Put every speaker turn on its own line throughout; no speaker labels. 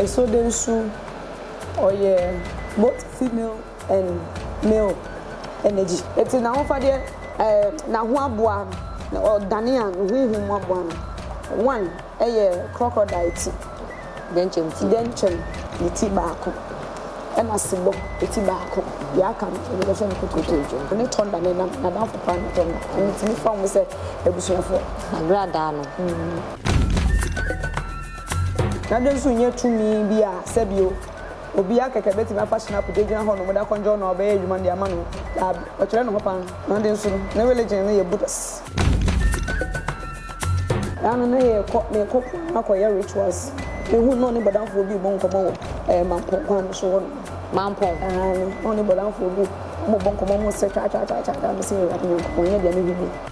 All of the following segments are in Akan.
So dɛn nso ɔyɛ both female and male energy. Etse n'ahofadeɛ eh n'ahoaboa na ɔdane a ne honhom aboa no one ɛyɛ crocodile ti, dɛnkyɛm ne ti baako ɛna sebɔ ti baako deɛ aka no yɛde bɛhwɛ no kotokoto ɔne thunder ne nam n'adamfo paa ne thunder ɛno nti me fa wɔn sɛ abusuafoɔ. Agradaa no. Na dɛn so nnyɛ tumi bi a sɛbio, obiara kɛkɛ betumi afa so na akogyinagyina hɔ no mo da kɔndjɔw na ɔbɛyɛ adwuma de ama no? Daabi, ɔkyerɛ ne ho pan, na dɛn so no, ne religion no yɛ Buddhas. Daa no na yɛkɔ, na yɛkɔ po ano akɔyɛ rituals. Mehu no na ɔne bɔdamfoɔ bi rebɔ nkɔmmɔ wɔ ɛɛ Mampong kwan no so hɔ nom. Mampong? Aane, na ɔne bɔdamfoɔ bi wɔrebɔ nkɔmmɔ, wɔresɛ twaa twaa twaa twaa, mese Awurade Nyankopɔn, nyɛ deɛ mehwɛ nie.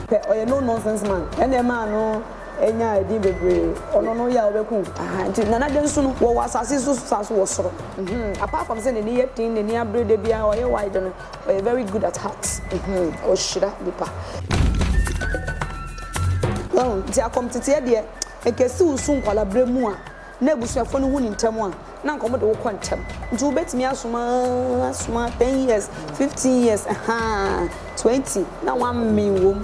Pɛ ɔyɛ no nonsense man ɛna ɛmaa no nyaa ɛdin bebree ɔno no yɛ a ɔbɛku wo ahaa nti Nana Addo nso no wɔwɔ asase so saa nso wɔ soro mm apart from sɛ n'ani yɛ ten n'ani abere da biara ɔyɛ wide no ɔyɛ very good at heart mm ɔhyira nipa. Wahu nti akɔm teteɛ deɛ ɛkɛsi wo su nkwadaa berɛ mu a na abusuafo no hu no ntɛm a, na anka wɔde wo kɔ ntɛm. Nti wobetumi asom aa, asom aa, ten years, fifteen years, ɛhaa, twenty, na wɔammen wom.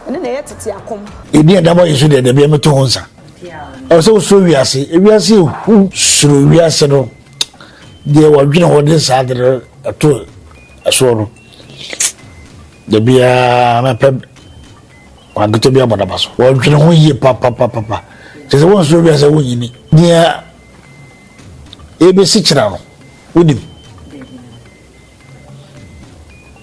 Ɛno na ɛyɛ tete akom. Yɛdi ɛda bɔ yɛ so deɛ, dabi ɛmɛto ho nsa. Ɛwɔ sɛ wosuro wiase. Ewiase ehu. Suro wiase no, deɛ wɔdwene hɔ de saa de no ɛto ɛsoɔ no, dabi aa, mɛpɛ Wɔankete bi abɔ n'aba so. Wɔdwene ho yie papapapapa. Kyerɛ sɛ wɔnsuro bi sɛ wonyini. Deɛ ɛbɛsi kyerɛ no, wonim.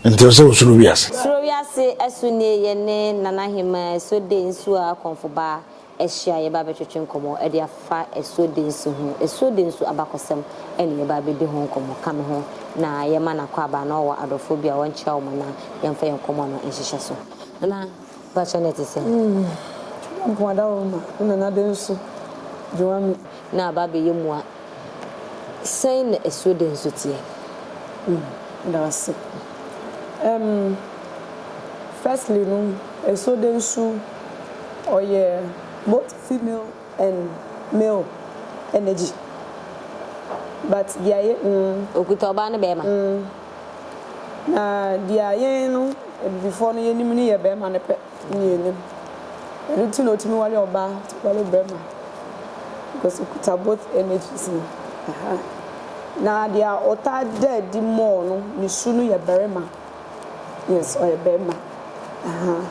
Nti sɛ wosuro wiase. Suro wiase ɛso
nie yɛ ne Nana Hemaa ɛso de nsuo a kɔnfobaa ahyia a yɛbɛba abɛtwetwe nkɔmmɔ de afa asuo densi ho. Asuo densi abakɔsɛm na yɛbɛba abɛdi ho nkɔmmɔ. Ka me ho na yɛmma no akwaaba na ɔwɔ adɔfoɔ bi a ɔnkyerɛ wo ma na yɛmfa yɛn nkɔmmɔ no nhyehyɛ so. Nana, mpakyɛ na ɛte sɛn? Twerɛmpɔn
Adaworoma ne Nana Denso Dwowame. Na aba abɛyɛ
mua. Sɛn na asuo de nso teɛ? Mm,
da ase. Um, firstly no, asuo de nso, ɔyɛ both female and male energy. But deɛ yɛ, mm. Okuta ɔbaa
ne bɛɛma. Mm. Na
deɛ yɛn no, Abibifoɔ no, yɛnim no yɛ bɛɛma no pɛ. Mmienu. Ɛno nti na ɔtumi ware ɔbaa, ɔtumi ware barima because ɔkuta both energies no. Ahaa. Na deɛ ɔtaa da adi more no, ne su no yɛ barima. Yes, ɔyɛ barima. Ahaa.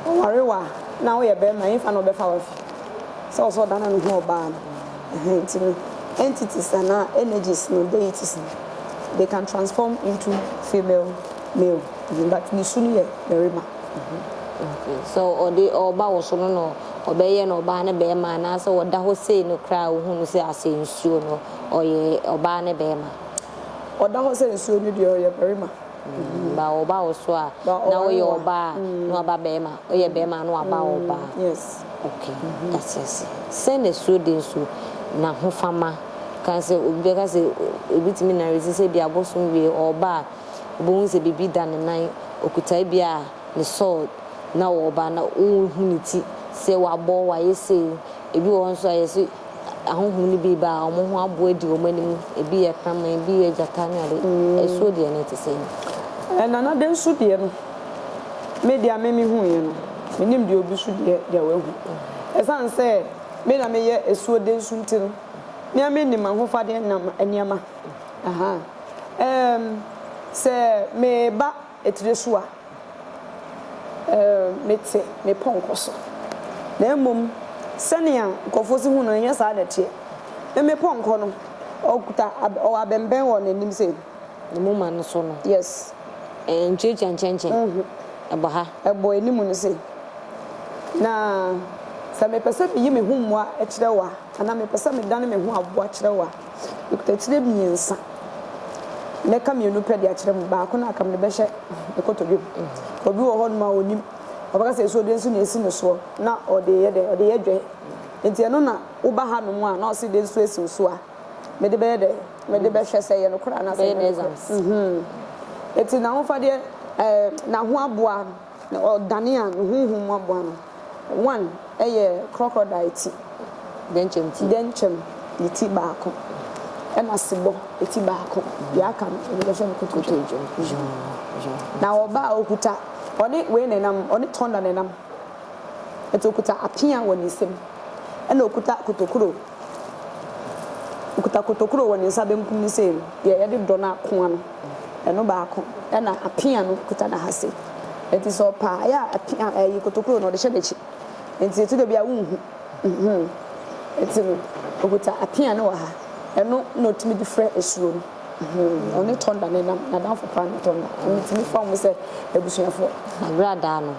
Ɔware wo a, na woyɛ barima, ɛmfa na ɔbɛfa wo afi. Sɛ ɔwɔ sɛ ɔdane ne ho ɔbaa no. Ɛhɛn, nti no, entities anaa energies no, deities no, they can transform into female, male, but ne su no yɛ barima.
Sɛ ɔde ɔba wɔ so no na ɔbɛyɛ no ɔbaa ne bɛɛma anaasɛ ɔda hɔ sei no koraa a ɔhu no sɛ asɛ nsuo no ɔyɛ ɔbaa ne bɛɛma. Ɔda hɔ
sɛ nsuo no deɛ ɔyɛ barima. Ba
ɔba wɔ so a na ɔyɛ ɔbaa a na waba bɛɛma ɔyɛ bɛɛma a na waba ɔbaa. Yes. Ok
yɛate
aseɛ. Sɛn na asuo de nso nahofama ka sɛ obi bɛka sɛ obi tumi naresi sɛ bi abosom wie ɔba a. Obohu dze biribi da ne nan, okutae bi a, ne sword, na ɔwɔ ba na oruhu ne ti sɛ ɔabɔ, ɔayɛ sei. Ebi wɔ hɔ nso a yɛse ahonhom no bi reba a, wɔn ho aboa adi wɔn anim. Ebi yɛ kraman, ebi yɛ gyata ne ade. Asuo deɛ na ɛte sɛn? Eh, Nana de
nso deɛ no, me deɛ a me mehuiɛ no, mennim deɛ obi nso deɛ deɛ wahu. Ɛsiane sɛ me na meyɛ asuo de nso nti no, me ara menim ahofadeɛ nam nneɛma. Ahaa. Erm, sɛ meba etire so a, erm, mete me pɔnkɔ so. Na mmom, sɛnea nkurɔfoɔ si hu no, ɛnyɛ saa na ɛteɛ. Me me pɔnkɔ no, ɔkuta ab, ɔwɔ abɛnbɛn wɔ n'anim sei. Ne moma no
so no. Yes.
Ɛnkyerɛkyerɛ nkyɛnkyɛn.
Wohu? Ɛbɔ ha. Ɛbɔ anim no
sei. Na sɛ mepɛ sɛ meyi me ho mmoa kyerɛ wo a, anaa mepɛ sɛ medane me ho aboa kyerɛ wo a, Mekutakyire mmiɛnsa. Mɛka mmienu pɛ de akyerɛ mo. Baako no a aka me no bɛhyɛ ne kotodwe mu. Obi wɔ hɔnom a ɔnim. Ɔbɛka sɛ asuo dɛn so na ɛsi ne soɔ na ɔde reyɛ dɛn? Ɔde reyɛ dwɛ. Enti ɛno na woba hanom a na ɔse dɛn so asi wo so a, mede bɛyɛ dɛn? Mede bɛhwɛ sɛ ɛyɛ nokorɛ anaasɛ ɛnyɛ nokorɛ. Enti n'ahofadeɛ, ɛɛ, n'ahoaboa. Na ɔdane a ne honhom mu aboa no, wan, ɛyɛ krɔkrɔdae ti, dɛnkyɛm
ne ti baako,
ɛna sebɔ ti baako, deɛ aka no wɔde bɛhyɛ no kotodwe dwa. Na ɔbaa a ɔkuta, ɔne wei na ɛnam, ɔne tɔnda na ɛnam, ɛnti ɔkuta apea wɔ ne nsam, ɛna ɔkuta kotokuro, ɔkuta kotokuro wɔ ne nsa benkum no sei no, deɛ yɛde dɔ no akoa no. Ɛno baako na apea no kuta n'ahase. Enti sɛ ɔpa ayɛ a, apea ɛyi kotokuro no ɔde hyɛ n'akyi. Enti etu da bi a wonhu. Nhuu? Enti no, okuta apea no wɔ ha. Ɛno na otumi de fira asuo no. Nhuu? Ɔne Thunder na ɛnam. N'adamfo paa ne Thunder. Metumi fa wɔn sɛ abusuafoɔ. Agradaa
no,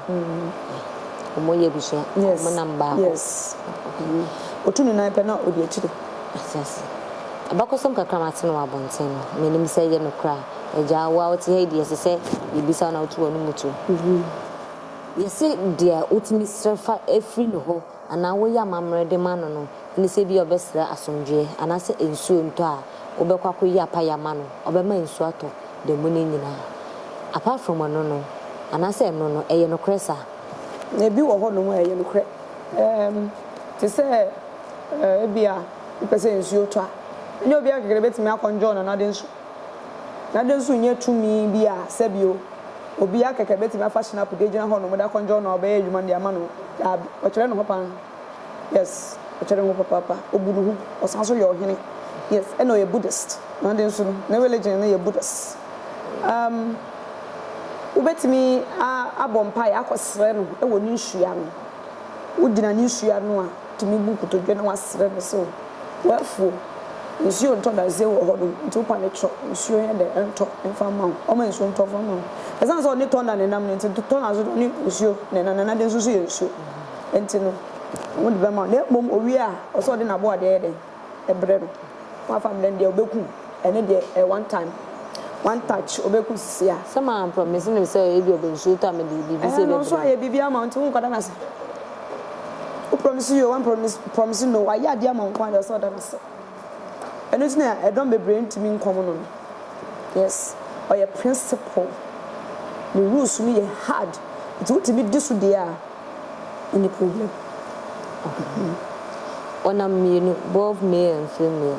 wɔyɛ abusua. Wɔnam baako. Yes. Yes.
Otu ne nan pɛ na odi akyire. Ate ase.
Abakɔsɛm kakra a mate no wɔ abɔnten no, minnim sɛ ɛyɛ nokorɛ a. Agya, wo a wote ha yi deɛ, ɛsɛ sɛ yebisa wo na woto w'anomu to. Yɛse deɛ wotumi srɛ fa firi ne hɔ anaa woyɛ amammerɛ de ma no no ne sɛ ebia ɔbɛsrɛ asomdwoeɛ anaasɛ nsuo ntɔ a, wobɛkɔ akɔyi apaeɛ ama no, ɔbɛma nsuo atɔ da mu no nyinaa. Apart from ɛno no, anaasɛ ɛno no, ɛyɛ nokorɛ saa? Ebi wɔ
hɔnom a ɛyɛ nokorɛ. Ɛɛm, te sɛ. Ɛɛ, ebia wopɛ sɛ nsuo tɔ a, ɛnyɛ obiara kɛkɛ na obetumi akɔndwɔɔ no anadɛ nsu. Anadɛ nsu nyɛ tumi bi a sɛbio obiara kɛkɛ betumi afa shinap de agyina hɔnom de akɔndwɔɔ no a ɔbɛyɛ adwuma no de ama no. Daabi, ɔkyerɛ ne ho paa. Yes, ɔkyerɛ ne ho papaapa. Obu ne ho, ɔsan nso yɛ ɔhene. Yes, ɛna ɔyɛ Buddhist. Anadɛ nsu no, ne religion no yɛ Buddhist. Um, wobetumi a, abɔ mpaeɛ akɔsrɛ no wɔ ne nsu ano. Wogyina ne nsu ano a, tumi bu nkotodwe na wasrɛ no sɛ, O w'afuo, nsuo ntɔ dadesɛn wɔ hɔ nom, nti wo pane kyerɛ nsuo nyɛ dɛ ntɔ mfa mma wo, ɔma nsuo ntɔ mfa mma wo. Ɛsiane sɛ ɔne Tɔna nenam no nti, Tɔna nso ɔne nsuo nenam, na n'ade nso so yɛ nsuo, nti no, ɔde bɛma wo. Na mmom owie a, ɔsɛ sɛ ɔde n'aboadeɛ yɛ dɛn? brɛ no wafa me dɛn deɛ ɔbɛku ɛno deɛ ɛyɛ one time one touch ɔbɛku sisi a. Sɛ maa promise no
sɛ ebi ɔbɛ nsuo tɔ a me de biribi sɛ ɛbɛbrɛ. Ɛhɛn ɔnso ayɛ biribi ama wo nti
wo kɔ da no ase wo promise yoo wan promise promise no wayɛ adeɛ ama wo nko ara deɛ ɔsɛ ɔda no ase ɛno nti na ɛdɔm bebree ntumi nkɔm no no yes ɔyɛ principle ne rules no yɛ hard nti wotumi di so deɛ a. Any problem ɔhɔhoɔ
ɔnam mmienu both male and female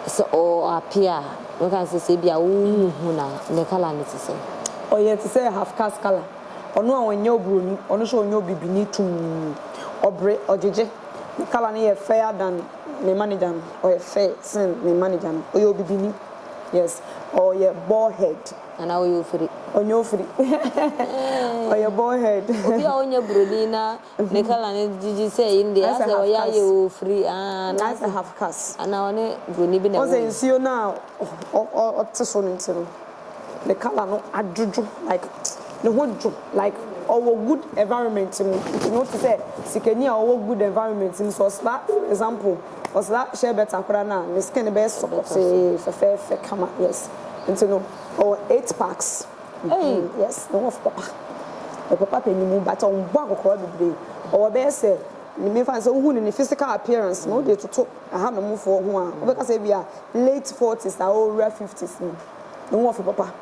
sɛ ɔ appear a mɛka no sɛ sɛ ebia wo nhu no a ne colour no te sɛn. Ɔyɛ te sɛ
half caste colour ɔno a ɔnyɛ oburoni ɔno nso ɔnyɛ obibini tumm ɔbre ɔgyegye ne colour no yɛ fair than me manager no ɔyɛ fair sen me manager no ɔyɛ obibini yes ɔyɛ ball head. Anaa ɔyɛ ofiri.
Ɔnyɛ ofiri.
Ɔyɛ bald head. Obi a ɔnyɛ broni
na ne colour no gyigyi sɛ yei no deɛ That's a asɛ half ɔyɛ ayɛ caste. ofiri aah That's a anaasɛ half
caste. anaa ɔne broni
bi na Wohu ɛwɔ sɛ mu. nsuo no a
ɔ ɔ ɔte so no nti no, ne colour no adwodwo like ne ho dwo like ɔwɔ good environment mu nti no wote sɛ sikani a ɔwɔ good environment mu sɛ ɔsra for example. Ɔsra hyɛ bɛta koraa no a ne skin no bɛyɛ sɔkɔtee fɛfɛɛfɛ kama yes nti no ɔwɔ eight packs Ei! yes ne ho ɔfɔ papa ɔpɛ papa pɛ ne mu but ɔnbɔ akɔkɔɔ bebree ɔwɔ bɛyɛ sɛ memfa no sɛ wohu no ne physical appearance no wode toto ahanom foɔ ho a wobɛka sɛ ebia late forties a ɔrewura fifties mu ne ho ɔfɔ papa.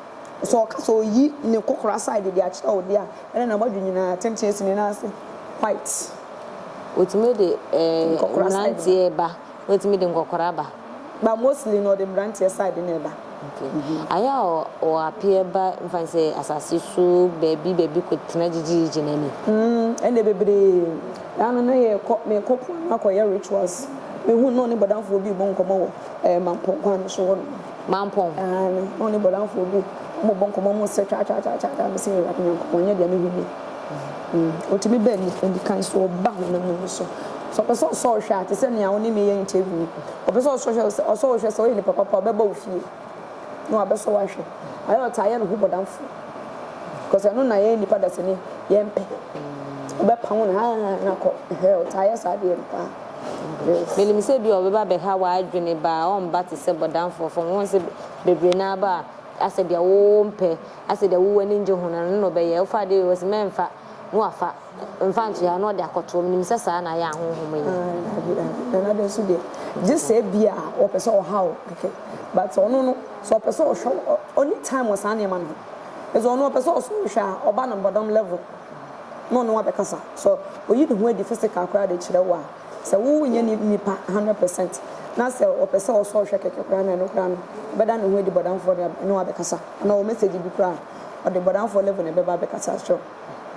Sɛ ɔka sɛ oyi ne kokora side de akyerɛ wo de a, ɛnna n'abɔdwe nyinaa atenten si ne nan ase quite. Otumi
de mmranteɛ ba, otumi de nkɔkora ba. But mostly no
ɔde mmranteɛ side na ɛba. Okay. Ayɛ
a ɔ appear ba nfa ne sɛ asase so baabi baabi kɔ tena gyigyiigyi n'ani. Mm, ɛnna bebree.
Da no na yɛkɔ, mekɔ po ano akɔyɛ rituals. Mehu no na ɔne bɔdamfoɔ bi rebɔ nkɔmmɔ wɔ ɛɛ Mampong kwan no so hɔ nom. mampɔn. Aane,
me ho ne
Bɔlanfoɔ bi, wɔn bɔ nkɔmmɔ, wɔn sɛ twaatwaatwaatwaa, me se Awurade Nyankopɔn, nyɛ deɛ me hwɛ nie. Ɔtumi baa anikan so, ɔba honam mu no so. Sɛ ɔpɛ sɛ ɔsɔ wo hwɛ a, te sɛ nea wo ne me yɛ interview yi, ɔpɛ sɛ ɔsɔ hwɛ, ɔsɔ wo hwɛ sɛ woyɛ nipa papa a, ɔbɛba wo fie na wabɛsɔ wo ahwɛ. Ayɛ ɔtaa yɛ ne ho bɔdamfoɔ. Because ɛno na yɛn nipa dasani, yɛmpɛ. Ɔbɛpam wo na haa na kɔ. Ɛhɛɛ, ɔtaa yɛ saa adeɛ no paa. Minim
sɛ bi a ɔbɛba abɛha w'adwene ba a ɔmmba te sɛ bɔdamfoɔ fam. Wohu sɛ bebree no ara ba a, asɛ deɛ wompɛ, asɛ deɛ wo w'ani ngye ho no, ɛno na ɔbɛyɛ. Wofa adeɛ wei hɔ sɛ mɛmfa, na wafa, mfa nto ha, na ɔde akɔtoɔ. Menim sɛ saa na ayɛ ahonhom yi. Aah daabi, aah ɛna dɛ nso deɛ,
gye sɛ bi a ɔpɛ sɛ ɔha wo kɛkɛ. But ɔno no, sɛ ɔpɛ sɛ ɔhwɛ wo, ɔ, ɔnni time wɔ saa nneɛma no ho. Ɛsɛ ɔno ɔpɛ sɛ ɔsɔ wo hwɛ a, ɔba no bɔdam level. na ɔne wo abɛkasa. Sɛ oyi ne ho adi physical koraa de kyerɛ wo a, sɛ wo nyɛ ne nipa hundred percent na sɛ ɔpɛ sɛ ɔsɔ ɔhwɛ kɛkɛ koraa na ɛno koraa no ɔbɛda ne ho adi bɔdamfoɔ de ne wo abɛkasa. Anaa ɔwɔ message bi koraa a ɔde bɔdamfoɔ level na ɛbɛba abɛkasa akyerɛ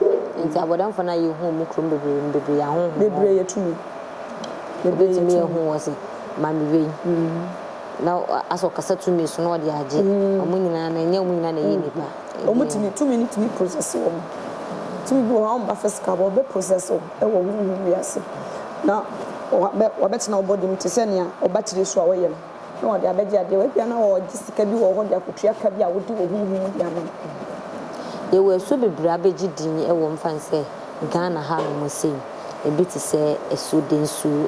wo. Nti
abɔdamfoɔ no a yɛ hu ɔmo kurom bebree no bebree yɛ ahonhom. Bebree yɛ tumi.
Bebree
yɛ tumi. Obetumi ahu wɔ se maame wei na asɛ ɔkasa tumi so na ɔde agye ɔmo nyinaa no ɛnyɛ ɔmo nyinaa na ɛyɛ nipa. Wɔn tumi, tumi
no tumi process wɔn. Tumi bi wɔ hɔ a wɔmba physical but ɔbɛ process wo wɔ honhom wiase na wabɛtena wo body mu te sɛ nea wo battery so a wɔyɛ no na wɔde abɛgye adeɛ wɔ. Ebia na wɔregye sika bi wɔ hɔ de akɔtua ka bi a wode wɔ honhom mu de ama no. Yɛwɔ
asuo bebree a bɛgye din wɔ mu fane sɛ. Ghana hanom sei, ebi te sɛ asuo, densu,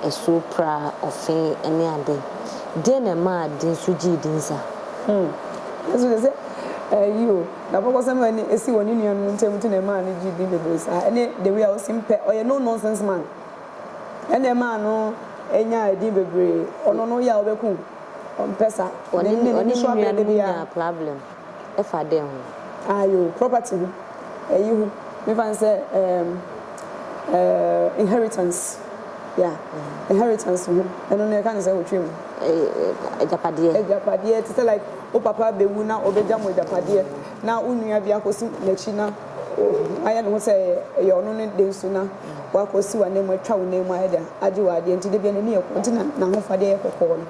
asuo pra, ɔfe ne ade. Deɛ na ɛmaa densu gyee din saa? Hmm.
Yesu de sɛ ayi o, n'abakɔsɛm a ɛne ɛsi wɔ ne nuanom ntam nti na ɛmaa no gyee din bebree saa. Ɛne the way a ɔsi mpɛ, ɔyɛ no nonsense man, ɛna ɛmaa no nyaa edin bebree. Ɔno no woyɛ a wobɛku o, ɔmpɛ saa. Ɔne ne nuanom
nyaa problem. Ɛfa dɛn ho? Aah yoo, property ho,
ɛyi ho, menfa no sɛ ɛɛm ɛɛm inheritance, yeah, inheritance ho, ɛno no yɛka no sɛ otwam. Ɛɛ agyapadeɛ. Agyapadeɛ, te sɛ like wo papa bɛwu na ɔbɛgya mo agyapadeɛ na wo nua bi akɔsi n'akyi na wayɛ ne ho sɛ ɛyɛ ɛyɛ ɔno ne de nso na wakɔsi w'ananmu atwa wo nan mu ayɛ dɛn agye w'adeɛ nti da biara n'ani yɛ kɔkɔɔ nti na n'ahofadeɛ yɛ kɔkɔɔ no.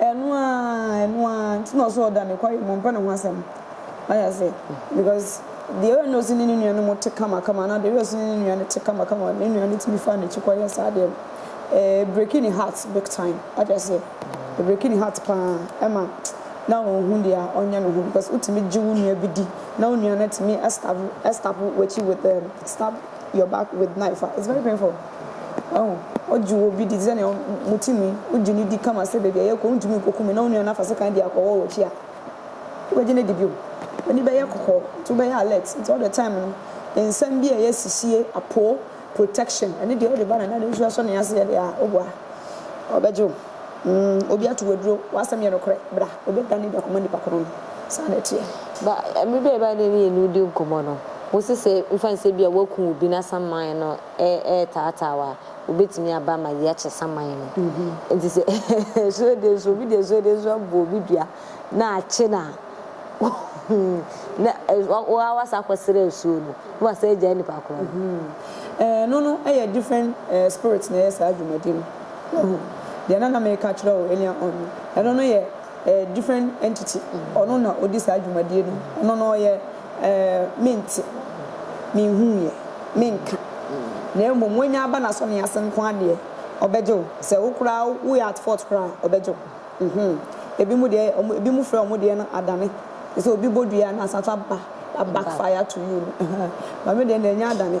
Ɛno aa
ɛno aa nti na ɔsɛ ɔda nokware mu mpɛ ne ho asɛm wate ase because deɛ ɔyɛ nose ne ne nua no mo te kama kama anaa deɛ ɔyɛ ɔse ne ne nua no te kama kama ne nua no tumi faa n'akyi kɔ yɛ saa deɛ no ɛɛ breaking ne heart big time wate ase breaking ne heart paa ɛma na ɔnhu deɛ ɔnyɛ ne ho because wotumi gye wo nua bi di na wo nua no tumi ɛstab ɛstab wakyi with um, stab your back with knife a it's very painful. Ao, ogye wo obi di te sɛ nea mote mu yi, wugye no di kama sɛ baabi a yɛrekɔ no wuntumi nkokum me na wo nua no afa sekan de akɔ hɔ wɔ akyi a, wobegye no adi bio? W'ani bɛyɛ kɔkɔɔ, nti wobɛyɛ alert, nti all the time no nsɛm bi a ɛyɛ sihye, apoo, protection, ɛno deɛ wode ba no na ade nso asɔ ne ase yɛ deɛ a, woboa a, ɔbɛgye wo. Mm, obi ato wo aduro, w'asɛm yɛ nokorɛ, bra, wobɛdane adi akɔma nipa korɔn no. Saa na ɛteɛ. Ba, mmere bi a
yɛbae na me ne wo dii nkɔmmɔ no, wose sɛ mfa no sɛ bi a woakum obi na asan man no retaataa wo a, obetumi aba ama yɛakyɛ saman no. Enti sɛ asuade nso, obi de asuade nso abɔ obi dua na akye no a, na wo ara woasan akɔsrɛ asuo no, na woasan agyae nipa korɔ no. Ɛno
no yɛ different spirit na ɛyɛ saa dwumadi no. Wahu? Deɛ na na mereka akyerɛ wo earlier on no, ɛno no yɛ different entity. Ɔno na ɔdi saa dwumadie no. Ɔno no ɔyɛ Ɛɛ, mente, menhuuɛ, menka, na mmom wanya aba n'asɔne ase nko ara deɛ, ɔbɛgye wo. Sɛ wo koraa woyɛ at fault koraa a, ɔbɛgye wo. Mhmm. Ebinom deɛ, wɔn, ebinom frɛ wɔn deɛ no adane. Te sɛ obi bɔ dua na asan nso aba, a backfire to you no, ɛhɛn. Maame deɛ, na ɛnyɛ adane.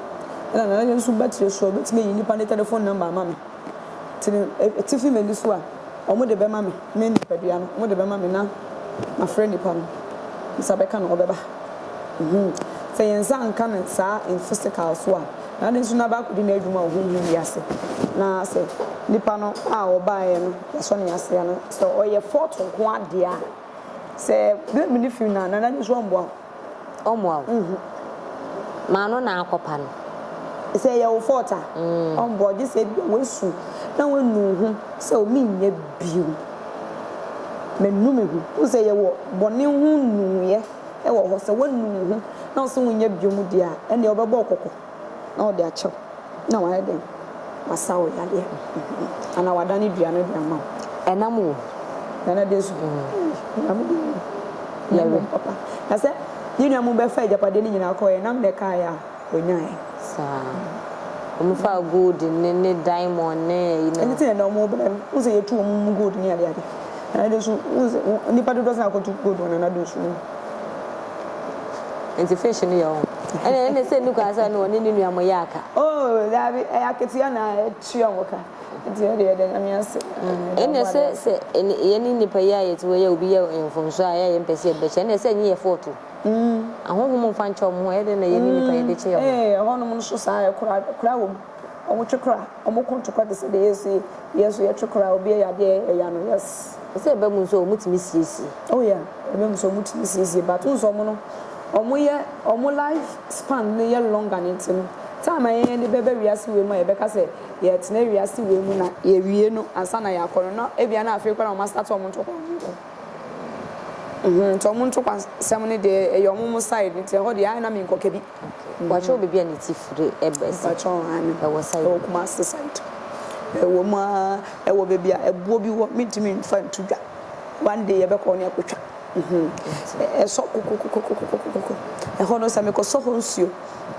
Ɛna Nana Nyew nso bɛkyerɛ sɛ ɔbɛtumi ayi nnipa no tɛlɛfon nɔmba ama me. Nti no, atifi m'ani so a, wɔde bɛma me, me nipadua no, wɔde bɛma me na mafrɛ nnipa no. Me nsa bɛka no, wɔbɛba. Humm. Sɛ yɛn nsa anka no saa in physical so a, na ade nso na abɛakɔdi n'adwuma wɔ honhom wiase. Na sɛ nipa no a ɔbaeɛ no, yɛasɔ ne ase a, na sɛ ɔyɛ fault nko ara deɛ a, sɛ blame no fi no a, Nana Nyew nso ɔmmoa wo. Ɔmmoa wo. Nhu.
Ma no na akɔpa no. Sɛ ɛyɛ wo
fault a, ɔmmoa wo. Gye sɛ ebia woasu na woanu wo ho sɛ o menyɛ bio. Manu me ho. Wohu sɛ yɛwɔ bɔne ho nuuyɛ wɔ hɔ. Sɛ woanu wo ho na wo se wonyɛ bio mu deɛ a, ɛnneɛ ɔbɛbɔ wo kɔkɔ. na ɔde akyɛ wo na wayɛ dɛn? Wasa wo yadeɛ anaa wadane dua no de ama wo. Ɛnam
wo nana
deɛ so. Nyame deɛ nim. Yɛ wɔ. Papa. Na sɛ ne nua mu bɛfa agyapadeɛ no nyinaa kɔɛ, ɛnam na ɛkaeɛ a ɔnyaeɛ. Saa.
Wɔn faa gold ne ne diamond ne ɛyi no. Ɛne sɛ ɛnam wɔn bɛn.
Wo sɛ yɛtu wɔn mu gold ne adeade. Nana deɛ so, wo sɛ, nipa dodoɔ sɛ akɔtu gold wɔ nana deɛ so no.
Nti fish no yɛ ɔho. Ɛna ɛne sɛ nni kwan sɛ ɔne ɔne ne nua mo yɛ aka. Oh daabi
ɛyɛ akatua na ɛtua mo ka nti ɛne yɛda nyame ase. Ɛne sɛ
sɛ yɛne nnipa yi a yɛte hɔ yi a obi yɛ yɛn mfomsoɔ a yɛ a yɛmpɛ sɛ yɛde bɛkyɛ ɛne sɛ ɛnyɛ yɛ fault o. Ahonhom mfa nkyɛ wɔn ho ɛyɛ dɛn na yɛne nnipa yɛde kyɛ yɛn ho. Ee ɛhɔnom nso saa
ɛkora ɛkora wɔ mu. Ɔmo twe kora, ɔmo ko ntokwa te sɛ deɛ yɛsu yi, yɛn nso yɛtwe kora a obi ɛyɛ adeɛ a yɛyɛ ya no, yes. Ɔsɛ ɛba mu nso a ɔmo
tumi siesie. Oh yeah, ɛba
mu nso a ɔmo tumi siesie but wohu sɛ ɔmo no, ɔmo yɛ, ɔmo life span no yɛ longer no nti no, time a yɛn yɛde bɛba wiase wei mu a yɛbɛka sɛ yɛretena wiase wei mu na yɛawie no ansa na yɛakɔ no, na ebia na afei koraa na ɔmo astate ɔmo ntokwa ho nkɔ. Mmhmm, nti ɔmo ntokwa nsɛm no deɛ ɛyɛ ɔmo ɔmo side nti ɛhɔ deɛ ae na menkɔ kɛbi. Wɔakyerɛw baabi a
ne ti firi ba sɛ Mpakyɛw, aane. ɛwɔ
site Ɛwɔ Kumasi
site.
Ɛwɔ mu ara, ɛwɔ baabi a ɛboɔ bi wɔ, mentumi mfa nto dwa. One day yɛbɛkɔ hɔ na yɛakɔtwa. Ɛsɔ kokokokokokokoko. Ɛhɔ no, sɛ mekɔsɔ hɔ nsuo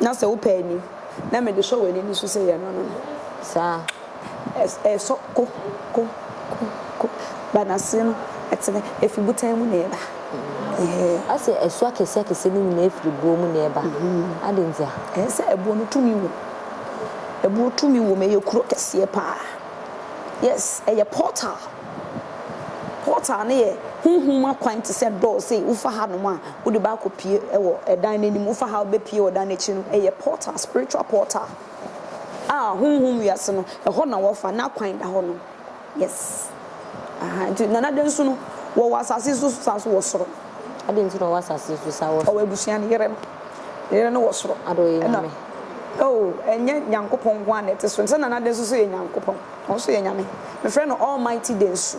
na sɛ wopɛ ani na mede hwɛ w'ani no so sɛ yɛnono no. Saa. Ɛsɔ ko, ko, ko, ko, ba n'ase no, ɛtene, ɛfiri botan mu na ɛba, eeh.
Ɔse ɛso akɛseakɛseɛ no nyinaa firi boɔ mu na ɛba, adɛn ntia? Ɛɛ sɛ ɛboɔ
no tumi wom, ɛboɔ tumi wom, ɛyɛ kuro kɛseɛ paa, yes, ɛyɛ portal, portal no yɛ honhom akwan te sɛ door, sei, wofa hanom a, wode bɛakɔ pue wɔ ɛdan no anim, wofa ha wobɛpue wɔ dan no akyi no, ɛyɛ portal, spiritual portal. a honhom wiase no ɛhɔ na wɔfa n'akwan da hɔ no yes ahaa nti nana dɛ nso no wɔwɔ asase nso so saa so wɔ soro. Adɛn nti na ɔwɔ
asase nso saa wɔ soro. Ɔwɔ abusua no yere no
ne yere no wɔ soro. Adɛ ɔyɛ nyame.
Oh ɛnyɛ
nyankopɔn nko ara na ɛte so sɛ nana dɛ nso so yɛ nyankopɔn ɔno nso yɛ nyame mefrɛ no almighty dɛ nsu.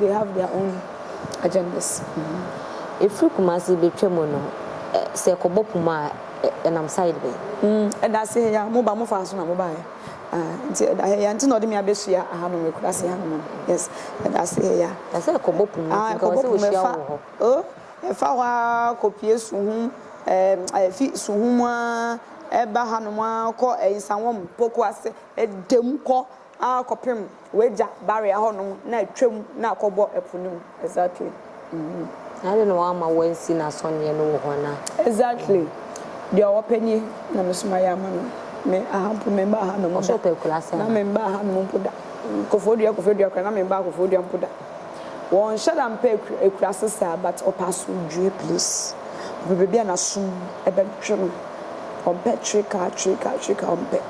They have their own agendas.
Efiri Kumasi betwa mu no, sɛ ɛkɔbɔ Puma a, ɛnam side bɛn? Ɛda ase ha
yi a, mo ba mo faa so na mo baeɛ ah nti ɛda ha yi a nti na ɔde me abɛsua ahanom wɔ Ekurase hanom no yes ɛda ase ha yi a. Na sɛ ɛkɔbɔ Puma nti
nka wɔ sɛ wɔ hyia wo wɔ hɔ. Oh ɛfa hɔ ara
kɔ pue Suhum eh ɛfi Suhum ara ɛba hanom ara kɔ Nsawam, Pokuase, ɛda mu kɔ Ara kɔpem w'agya bare ahɔnom na atwam na akɔbɔ ɛpo no mu. Exactly. Mm-hmm. Na
ade na w'ama w'ansi n'asɔneɛ no wɔ hɔn a. Exactly.
Deɛ ɔpɛ nie na me soma yɛ ama no. Me aha mpo me mba aha nom da. Ɔsɛ ɔpɛ kura sɛn na. Na me
mba aha nom mpo
da. Kofodua kofodua kura na me mba kofodua mpo da. Wɔnhyɛ da mpɛ akurase saa but ɔpɛ asomdwoe please. Ɔpɛ baabi a n'asom bɛtwe no. Ɔmpɛ twe car twe car twe car ɔmpɛ.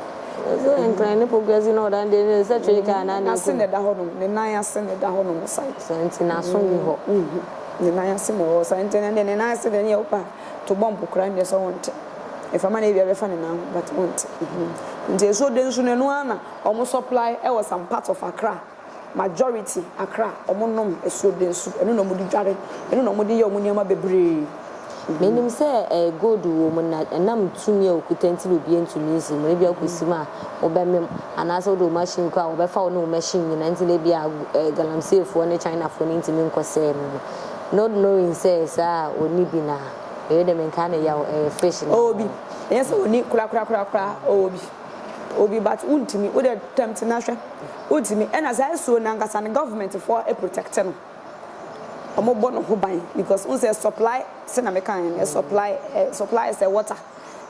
Ɔse ɛnkran
ne progressive na ɔda no deɛ ɛne sɛ twe car na na ɛkɔ mu. N'ase na ɛda hɔ nom, ne nan
ase na ɛda hɔ nom saa. Saa nti n'aso nni
hɔ. Ne nan ase
na ɛwɔ hɔ saa nti ɛnɛ deɛ ne nan ase deɛ ɛne yɛ wopɛ a to bɔmp koraa ɛne sɛ ɔnte. Ɛfa ma na ebia ɛbɛfa ne nan ho but ɔnte. Nti ɛso dɛ nso no ɛno ara na wɔn supply ɛwɔ some part of Accra. Majority akra ɔmo nom asuoden nsu ɛno na ɔmo de dware ɛno na ɔmo de yɛ ɔmo nneɛma bebree. Menim
sɛ ɛyɛ gold wɔ mu na ɛnam tumi a okuta nti na obiara ntumi nsi mu na ebia wokosi mu a wobɛmem anaasɛ wode wo machine kɔ a wɔbɛfa wo ne wo machine nyinaa nti na ebia galamseyfoɔ ne Chinafoɔ no ntumi nkɔsɛe no no not knowing sɛ saa a ɔnni bi na ɛyɛ dɛ menkaa no yaw ɛyɛ fish na Ɔwɔ bi ɛnyɛ sɛ
ɔnni korakorakorakoraa ɔwɔ bi ɔwɔ bi but wontumi wode attempt no ahwɛ. Wontumi ɛna saa esuo no ankasa no government foɔ protect no ɔmo bɔ no ho ban because wohu sɛ supply sɛ na meka yɛ no supply supply sɛ water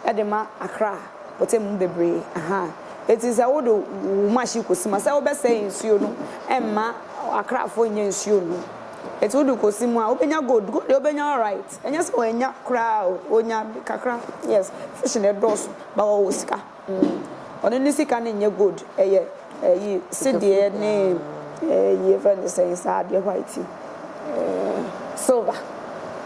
ɛde ma Accra pɔtam mu bebree ahaa eti sɛ wode wo machine kɔ si mu a sɛ wobɛ sɛe nsuo no ɛmma Accra foɔ nnya nsuo nnom eti wode kɔ si mu a wobɛnya gold gold deɛ wobɛnya alright ɛnyɛ sɛ wɔnnya koraa o wɔnya kakra yes fish no ɛdɔɔso but wɔwɔ sika. Ɔno ne sika no nyɛ gold ɛyɛ ɛyi sedeɛ ne ɛyi yɛfrɛ no sɛn saa adeɛ white yi silver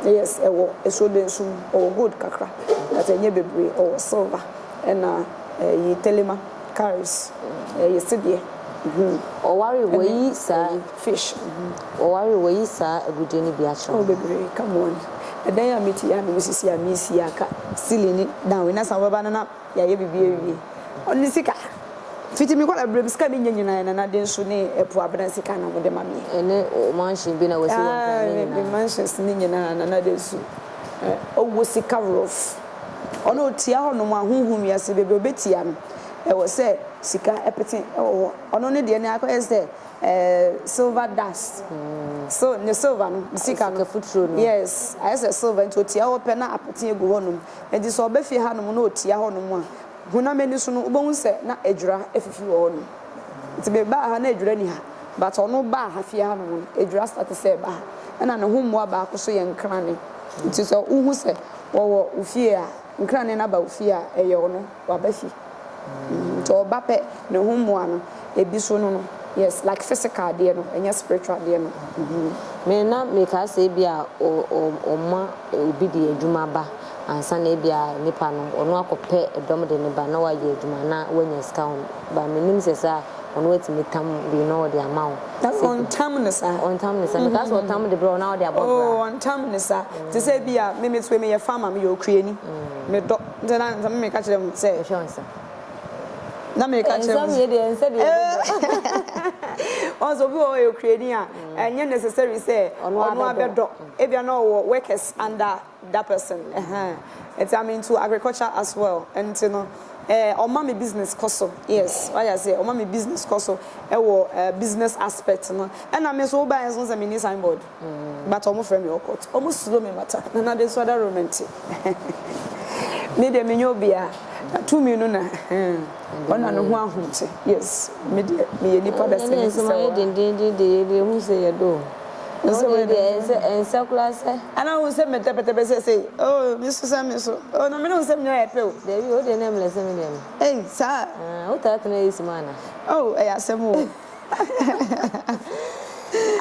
yes ɛwɔ esuodensu mu ɔwɔ gold kakra but ɛnyɛ bebree ɔwɔ silver ɛna ɛyi telema cowries ɛyɛ sedeɛ hmm.
Ɔware wayi saa ɛyi fish hmm.
Ɔware
wayi saa agudeɛ no bi akyerɛ ɔwɔ bebree come
on ɛdan a mete yɛ a na mesisi a mesi aka ceiling ne down na san wobɛba no na. yɛayɛ biribi awie. Ɔno sika, fiti me nkwadaa berɛ mu sika a menya nyinaa yɛ nanade nso ne ɛpo abena sika na wɔde ma me. Ɛne wo mansion bi na wasi
wɔ nkran ne nyinaa. Ah, me mansions
ne nyinaa nanade nso. Eh, ɔwɔ sika rof. Ɔno ɔtia hɔ nom ahonhom wiase baabi ɔbɛtia no. Ɛwɔ sɛ sika ɛpete ɛwɔ hɔ. Ɔno ne deɛ ne akɔyɛ sɛ eh, silver dust. So, ne silver no, sika no. Sika futuro no. Yes, ayɛ sɛ silver nti ɔtia hɔ pɛ na apete agu hɔ nom. Enti sɛ ɔba fie hanom na ɔtia hɔnom a, honam ani so no, wobɛhu sɛ na adwira afifi wɔ hɔnom. Enti mebaa ha na adwira nni ha, but ɔno baa ha fie hanom no, adwira starte sɛ ɛba ha. Ɛna ne ho mmoa baako nso yɛ nkrane. Enti sɛ wohu sɛ wɔwɔ wo fie a, nkrane no aba wo fie a, ɛyɛ ɔno. waba fi nti ɔba pɛ ne ho mmoa no ebi so no no yes like physical deɛ no ɛnyɛ spiritual deɛ no mm. Me
na mekaa sɛ ebi a ɔma obi de adwuma ba ansa na ebi a nipa no ɔno akɔpɛ dɔm de ne ba na wayɛ adwuma na wanya sika ho ba menim sɛ saa ɔno atumi tam bi na ɔde ama wo. Ɔntam ne saa.
Ɔntam ne saa mekaa
sɛ ɔtam de brɛ ɔna ɔde abɔ bra. Ɔntam ne
saa te sɛ bi a me me so meyɛ farmer meyɛ okuani medɔ. Nti na nka meka kyerɛ mo sɛ. Hwɛ wɔn nsam. Na meka kyerɛ mo. Nsam yɛ deɛ nsɛ deɛ ɛbɛdɔ. Wɔn sɛ obi wɔ hɔ yɛ okurani a ɛnyɛ necessary sɛ ɔno abɛdɔ ebia na ɔwɔ workers under that person ɛhɛn nti I'm into agriculture as well nti no ɛɛ ɔma me business kɔ so yes wayɛ aseɛ ɔma me business kɔ so ɛwɔ ɛɛ business aspect no ɛna me nso wobaeɛ nso sɛ menni signboard. But ɔmo frɛ me ɔkɔt ɔmo suro me mata nana de nso adaro mente me deɛ menyɛ obia na tumi no na ɔna no ho ahomte yes me deɛ meyɛ nipa bɛsɛ me sɛ wa. Ɛnɛ nsɛm ayɛ dendenden de yɛ deɛ hu sɛ yɛ do o. Nsɛm ayɛ dendenden de. Ɛnsɛ koraa sɛ. Ana hu sɛ me tɛpɛtɛpɛ sɛsɛyi oh me so sɛ me so oh na me ne wo nsɛm nyinaa yɛ pɛ o. Dabi o deɛ na ɛmlɛ sɛ me deɛ me. Ei saa. Wotaa tena AC mu ana. Oh ɛyɛ asɛm o.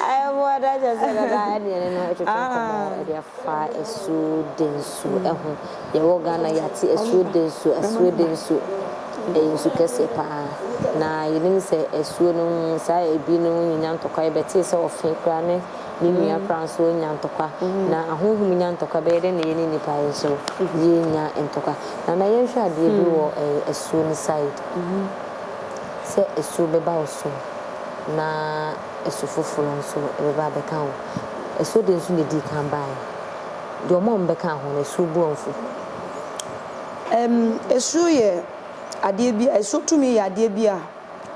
Ayɛmmoada kyerɛ sɛ dada ɛne ɛne no ɛtwetwe nkɔmmɔ ɛde afa asuo densuo ɛho. Yɛwɔ Ghana yɛate asuo densuo, asuo densuo ɛyɛ nsu kɛseɛ paa na yɛnim sɛ asuo no saa ebi no nyɛnya ntɔkwa yɛbɛtee sɛ ɔfe koraa ne ne nua koraa nso nya ntɔkwa na ahonhom nya ntɔkwa bɛyɛ dɛn na yɛne nnipa yɛ nso yɛnya ntɔkwa. Nana yɛnhwɛ adeɛ bi wɔ asuo no side. sɛ asu bɛba wo so na asu foforo nso bɛba abɛka wo. Asu de nso na edii kan bae. Deɛ wɔn a wɔbɛkaa ho no, asu bu wɔn fɔ. Asu yɛ adeɛ bi a, asu tumi yɛ adeɛ bi a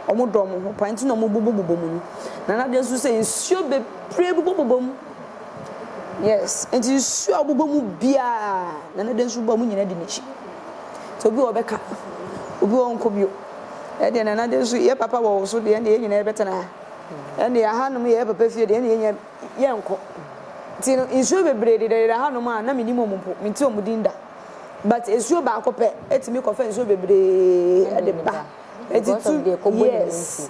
wɔdɔ wɔn ho paa nti na wɔbobɔbobɔ mu no. Na n'adeɛ nso sɛ nsuo bebree bobɔbobɔ mu. Yes, nti nsuo a wɔbobɔ mu biara na n'adeɛ nso bobɔ mu. Wɔn nyinaa di n'akyi. Nti obi wɔ hɔ a ɔbɛka, obi wɔ hɔ a ɔrenkɔ bio. ɛdeɛ na na denso yɛ papa wɔ wo so deɛ ɛne yɛ nyinaa yɛbɛtena ha ɛne ahanom yɛ papa fie deɛ ɛne yɛ nyinaa yɛnkɔ nti no nsuo bebree dedadeda hanom a na menim ɔmo mpo menti ɔmo din da but esuo baako pɛ ɛtumi kɔfa nsuo bebree ɛde ba ɛti tu yes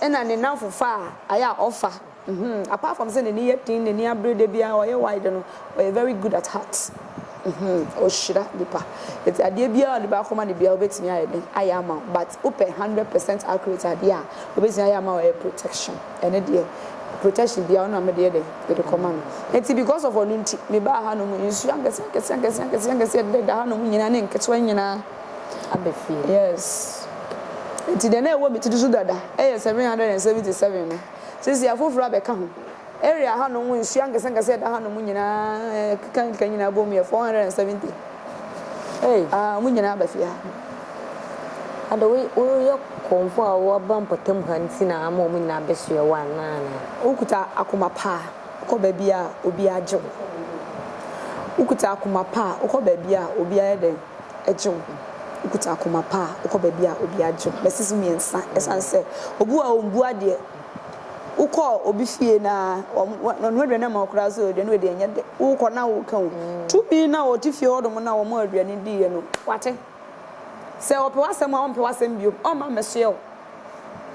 ɛna ne nanfo fa a ayɛ a ɔfa Uhmm apart from sɛ n'ani yɛ den n'ani abere da biara ɔyɛ wai de no ɔyɛ very good at heart uhmm ɔhyira nipa nti adeɛ biara a onipa akoma no biara ɔbɛtumi ayɛ dɛn ayɛ ama wo but wopɛ hundred percent accurate adeɛ a ɔbɛtumi ayɛ ama wo ɛyɛ protection ɛno deɛ protection biara ɔno na mede yɛ dɛn mede kɔma no nti because of ɔno nti me baa ha nom nsuo ankɛseɛ ankɛseɛ ankɛseɛ ankɛseɛ ankɛseɛ ɛdeda da ha nom nyinaa ne nketewa nyinaa aba fie
yes
nti deɛ na ɛwɔ me tiri so dada ɛyɛ seven hundred and seventy seven no. Sisi afoforo abɛka ho. Area hanom nsu ankɛseankɛse a ɛda hanom nyinaa ɛkekankeka nyinaa bom yɛ 470. Hey. Ah, wɔn nyinaa aba fie ha.
Ada, woyɛ kɔmfo a woaba mpɔtam ha nti na ama wɔn nyinaa abɛsoɛ wo anaa? Wokuta akoma
pa a, wokɔ baabiara a, obiara gye wo. Wokuta akoma pa a, wokɔ baabiara a, obiara yɛ dɛn? gye wo ho. Wokuta akoma pa a, wokɔ baabi a obi agye wo. Mɛsese mmiɛnsa ɛsiane sɛ obu a ɔmbu adeɛ. Wokɔ obi fie na ɔnoa aduane ama wo koraa sɛ aduane wei deɛ ɛnyɛ dɛ. Wokɔ na woka o. Tumi na ɔte fie hɔ nom na wɔmaa aduane diiɛ no, wate. Sɛ ɔpɛ w'asɛm a, ɔmpɛ w'asɛm bio. Ɔmma mmɛsoɛ wo.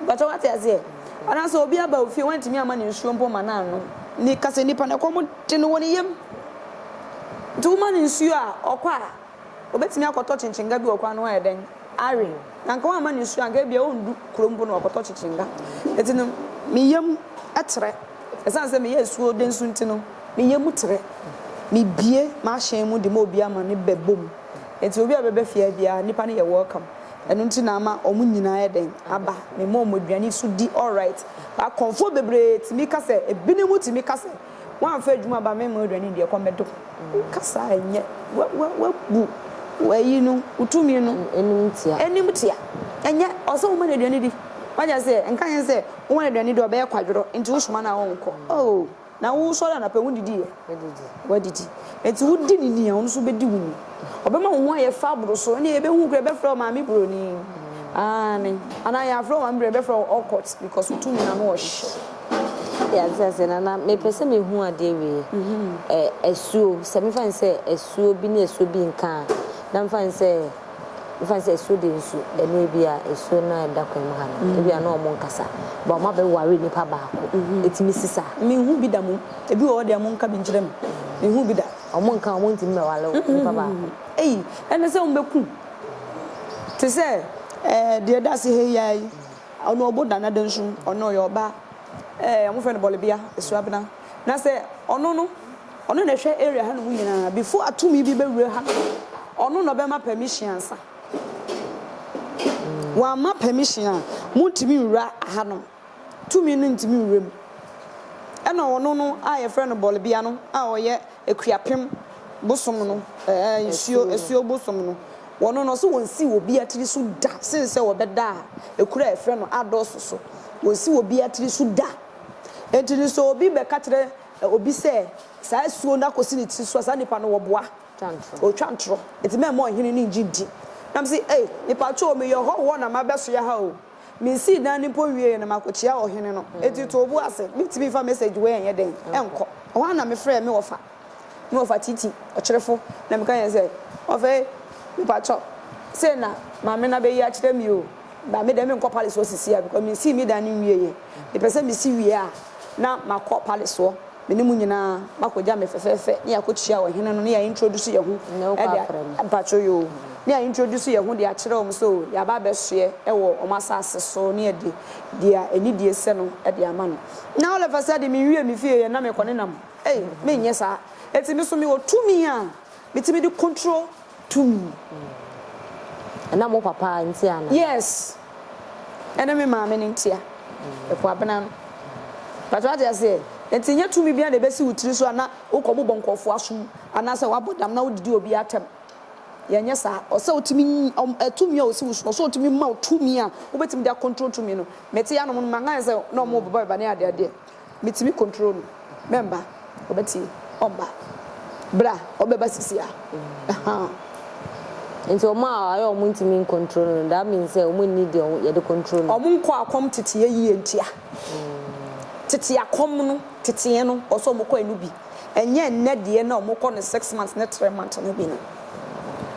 Mpakyɛw wate aseɛ? Anaa sɛ obi aba wo fie wantumi amma no nsuo mpo ma no annom. Ne ka sɛ nipa no ɛkɔm de no wɔ ne yam. Nti woma no nsuo a ɔkɔ a obetumi akɔtɔ kyenkyenga bi wɔ kwan no ho ayɛ dɛn awe. Na nka wamma no nsuo a nka ebia ɔndu kuro mpo na wakɔtɔ kyenkyenga. Nti no me yam trɛ. Ɛsiane sɛ meyɛ asuo denso nti no me yam trɛ. Mebue m'ahyɛn mu de ma obiara ma no bɛbɔ mu. Nti obi a ɔbɛba fie ha biara nipa no yɛ welcome. ɛno nti na ama ɔmo nyinaa ayɛ dɛn aba me ma ɔmo aduane yi so di alright but kɔmfoɔ bebree tumi ka sɛ ebinom tumi ka sɛ wamfa adwuma aba me ma wo aduane yi di ɛkɔm bɛde wo ka saa ɛnyɛ wa wa wabu wayi no wo tumi no anim tia anim tia ɛnyɛ ɔsɛ wo ma no aduane di wagya sɛ nka yɛn sɛ wo ma no aduane di ɔbɛyɛ kwadworɔ nti wo soma no a ɔnkɔ oh. Na wosɔre anapa, wodidi ɛ? Wadidi. Wadidi. Enti wodi ne ni a, ɔno nso bedi wo ni. Ɔbɛma wo ho ayɛ fa aboro so. Ɛnna yɛbɛhu kura yɛbɛfrɛ wo maame buroni. Aane. Anaa yɛafrɛ wo maame buroni, yɛbɛfrɛ wo awkward because wo tumi ano ɔhye. Yɛate
ase nana, mepɛ sɛ mehu adeɛ wei. Ɛ, asuo, sɛ mefa no sɛ asuo bi ne asuo bi nka a, na mefa no sɛ. Mefa sɛ su de nsu, ɛno ebi a esu no a ɛda kwan mu ha no, mm. ebi a na ɔmo nkasa, ba ɔmo abɛware nipa baako, mm-hmm. etumi si saa. Mehu bi da mu,
ebi wɔ hɔ deɛ ɔmo nka bi nkyerɛ mu, mehu bi da. Ɔmo nka ɔmo ntumi
bɛware mm-hmm. nipa baako. Eyi, ɛna sɛ
ɔmo bɛku, te sɛ ɛɛ eh, deɛ da ase ha yi ara yi, ɔno ɔbo da na de nso, ɔno ɔyɛ ɔbaa, ɛɛ eh, ɔmo fɛ no bɔlebea, esuabena, na sɛ ɔno no Ɔno na ɛhwɛ area hanom nyinaa. Before a tumi bi bɛwura ha no, ɔno na ɔbɛma permission ansa. Wamma permission a, montumi nwura hanom. Tumi no ntumi nwura mu. Ɛna ɔno no a yɛfrɛ no Bɔlebea no a ɔyɛ Akuapem bosom no, ɛɛ, nsuo, asuo bosom no, ɔno no, ɔse wɔnsi obiara tiri so da sen sɛ ɔbɛda ekuro a yɛfrɛ no Ados so. Wɔnsi obiara tiri so da. Enti no sɛ obi bɛka kyerɛ Sɛ obi sɛ saa asuo no akɔsi ne tiri so a, saa nipa no wɔboa, ɔretwa ntorɔ. Nti mɛmma ɔhene no nnye nni. Na mese, Ei, mepatwoo, meyɛ ɔhɔhoɔ na mabɛsoɛ ha o. Mensii dan no mpo nwieeɛ na makɔkyia ɔhene no. Nti to wo bo ase. Mentumi mfa message wei nyɛ dɛn, nkɔ. Ɛhɔ ara na mefrɛɛ me wɔfa, me wɔfa Titi, ɔkyerefo, na meka kyerɛɛ no sɛ, Wɔfa ei, mepatwɔ, sei na maame no abɛyi akyerɛ me o. Ba me dɛ menkɔ palesoɔ sisiaa because mesii me dan no nwieɛ mepɛ sɛ mesi wie a na makɔ palesoɔ me ne mo nyinaa makɔ gya me fɛfɛɛfɛ ne yɛakɔ kyia ɔhene no ne yɛ introduce yɛ ho ɛde mpakyɛw yoo ne yɛ introduce yɛ ho de akyerɛ wɔn sɛ o yɛaba abɛsoɛ ɛwɔ wɔn asaase so ne yɛde deɛ anidie sɛ no ɛde ama no na all of a sudden menwie me fie yɛ na mekɔ ne nam ei menyɛ saa eti me so mewɔ tumi a metumi de control tumi.
Ɛnam wo papa nti anaa? Yes,
ɛne me maame no ntia. Ɛfo abena no. But wate aseɛ, nti nyɛ tumi biara na ɛbɛsi wo tiri so a na wokɔ bobɔ nkurɔfoɔ aso mu anaasɛ woabɔ dam na wodidi obi atɛm. Yɛnyɛ saa. Ɔsɛ ɔtumi nyi, ɔm, ɛ, tumi a ɔsi wo so no, ɔsɛ ɔtumi ma wo tumi a wobɛtumi de acontrol tumi no. Mete anom no, mankae sɛ na wɔrebobɔ me ba ne adeadeɛ. Metumi control no mɛmba ɔbɛtie ɔmba bra ɔbɛba sisi a ɛhaa.
Nti wɔn a ayɛ wɔn ntumi ncontrol no no that means sɛ wɔn nni deɛ yɛde control no. Wɔn nkɔ akɔm
teteɛ yie ntia. Tete akɔm no teteɛ no wɔ sɛ wɔn kɔ ɛno bi ɛnyɛ ɛnnɛ deɛ na wɔn kɔ no six months ne three months no bi no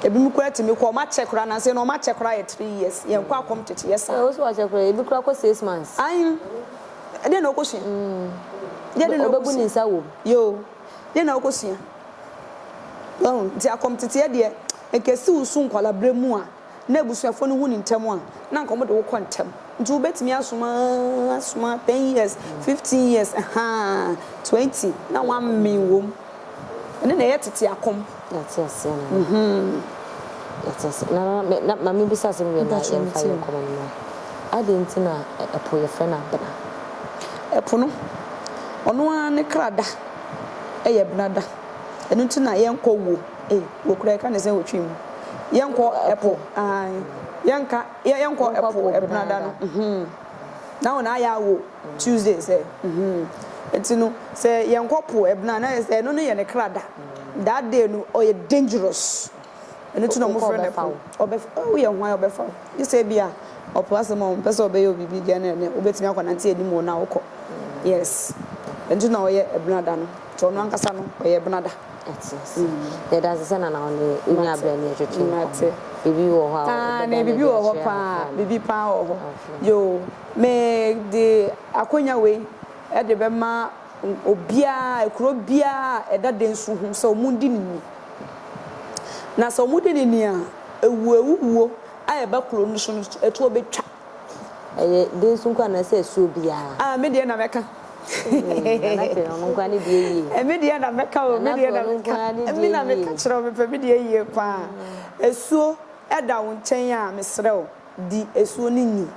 ɛbinom koraa tumi kɔ wɔn akyɛ koraa nansa no wɔn akyɛ koraa yɛ three years yɛn nkɔ akɔm teteɛ saa. Ɛwɔ sɛ wɔakyɛ koraa ebi koraa
kɔ six months. Ayi.
Ɛdeɛn na wokɔsua? Mm. Deɛn na wobɛbu ne nsa wom?
Yoo. Deɛn
na wokɔsua? Wahu? Nti akɔmteteɛ deɛ, nka ɛsi wo so nkwalaberɛ mu a, na abusuafoɔ no hu ne ntɛm a, na nka wɔde wo kɔ ntɛm. Nti wobɛtumi asom aa, asom aa, ten years, fifteen years, ɛhaa, twenty, na woammen wom. Ɛno na ɛyɛ tete akɔm. Yɛate aseɛ nana.
Yɛate aseɛ nana. Me na ma me bisa asɛm wie na yɛmfa yɛn nkɔmɔ no mmra. Adɛn nti na ɛpo yɛfrɛ no abena? Ɛpo
no, ɔno ara ne kra da yɛ abena da. Ɛno nti na yɛnkɔ wuo. Ei, wuo koraa yɛka no sɛn wɔ Twi mu? Yɛnkɔ ɛpo, ae, yɛnka, yɛnkɔ ɛpo abena da no. Na hɔn ayɛ awo Tuesday sɛ hmm ntsi no sɛ yɛnnkɔ po ebɛnaa na ayɛ sɛ ɛno no yɛ ne kra da that day no ɔyɛ dangerous ɛno ntsi na ɔmo frɛ no po ɔbɛf woyɛ hwan ɔbɛfa wo gye sɛ ebia ɔpo asɛm a ɔmmpɛ sɛ ɔbɛyɛ wo biribi dɛn na ɛnɛ wobɛtumi akɔ nantse anim wɔ no a wokɔ yes ɛno ntsi na ɔyɛ ebɛnaa da no ntsi ɔno ankasa no ɔyɛ ebɛnaa da. Ate
ase. Yɛda ase sɛ Nana wo ne yɛ nyaa berɛ ne yɛ twetwee nkɔmmɔ. Mate. Biribi wɔ hɔ a wobɛda no adi akyerɛ yɛn anaa? Aane, biribi wɔ hɔ paa,
biribi paa wɔ hɔ. Okay. Yoo, me de akonya wei de bɛma obiara, kuro biara a ɛda Densu ho sɛ wɔn di no ni. Na sɛ wɔn di no ni a, ɛwuo ɛwuwuo a ɛba kuro no so no, ɛtoɔ bɛtwa. Ɛyɛ
dee nso nkoa anaasɛ asuo biara. Ah me deɛ na mɛka. Eii nana kay ɔno nkoa ne deɛ yie. Me deɛ na mɛka o,
me deɛ na mɛka. Me na meka kyerɛ wo mepɛ me deɛ yie paa. Asuo ɛda wo nkyɛn a mesrɛ wo di asuo no ni.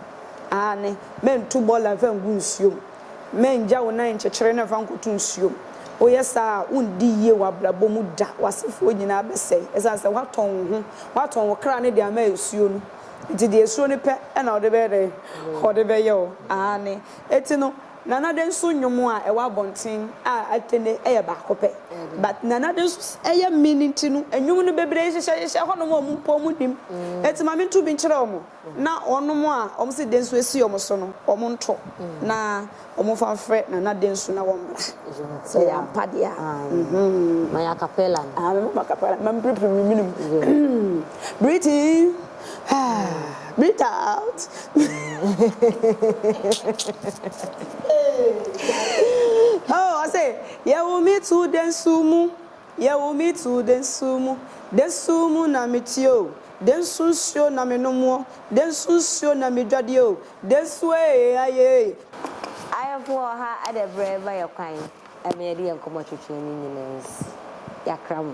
Aane, mɛnto bɔɔla mfa ngu nsuo mu. Mɛngya wo nan nkyekyere no mfa nkɔto nsuo mu. Woyɛ saa a wondi yie wɔ abrabɔ mu da, w'asefoɔ nyinaa bɛsɛe ɛsiane sɛ woatɔn wo ho, woatɔn wo kra no de ama asuo no. Ntsi deɛ esuro no pɛ na ɔde bɛyɛ dɛn? Ɔde bɛyɛ o, aane. Eti no, Nana Ade nso nnwom a ɛwɔ abɔnten a ate nnɛ yi yɛ baako pɛ. But Nana Ade nso sɛ ɛyɛ min nti no, nnwom no bebree hyehyɛ hyehyɛ hɔnom a wɔn mpo wɔn nnim. Eti ma mentu bi nkyerɛ wɔn, na wɔnom a wɔn se dɛn nso esi wɔn so no, wɔn nto, na. Wɔmfa mfrɛ Nana Densu na wɔmmra, sɛ ɛyɛ ampa deɛ a. Aye. Ma yɛ
acapella no. Aye, mɛbɔ acapella no.
Mampirepirim me mene mu. Breathe in, breathe out. Hey, Gyae. Oh, ɔse, Yɛwo me too Densu mu. Yɛ wo me too de nso mu de nso mu na me te o de nso nsuo na me nom o de nso nsuo na me dwade o de nso ee ayee. Ayefo
wɔ ha ɛdɛ brɛ ma yɛ kwan ɛma yɛde yɛ nkɔmɔ twetwe ne nyina ns yakra mo.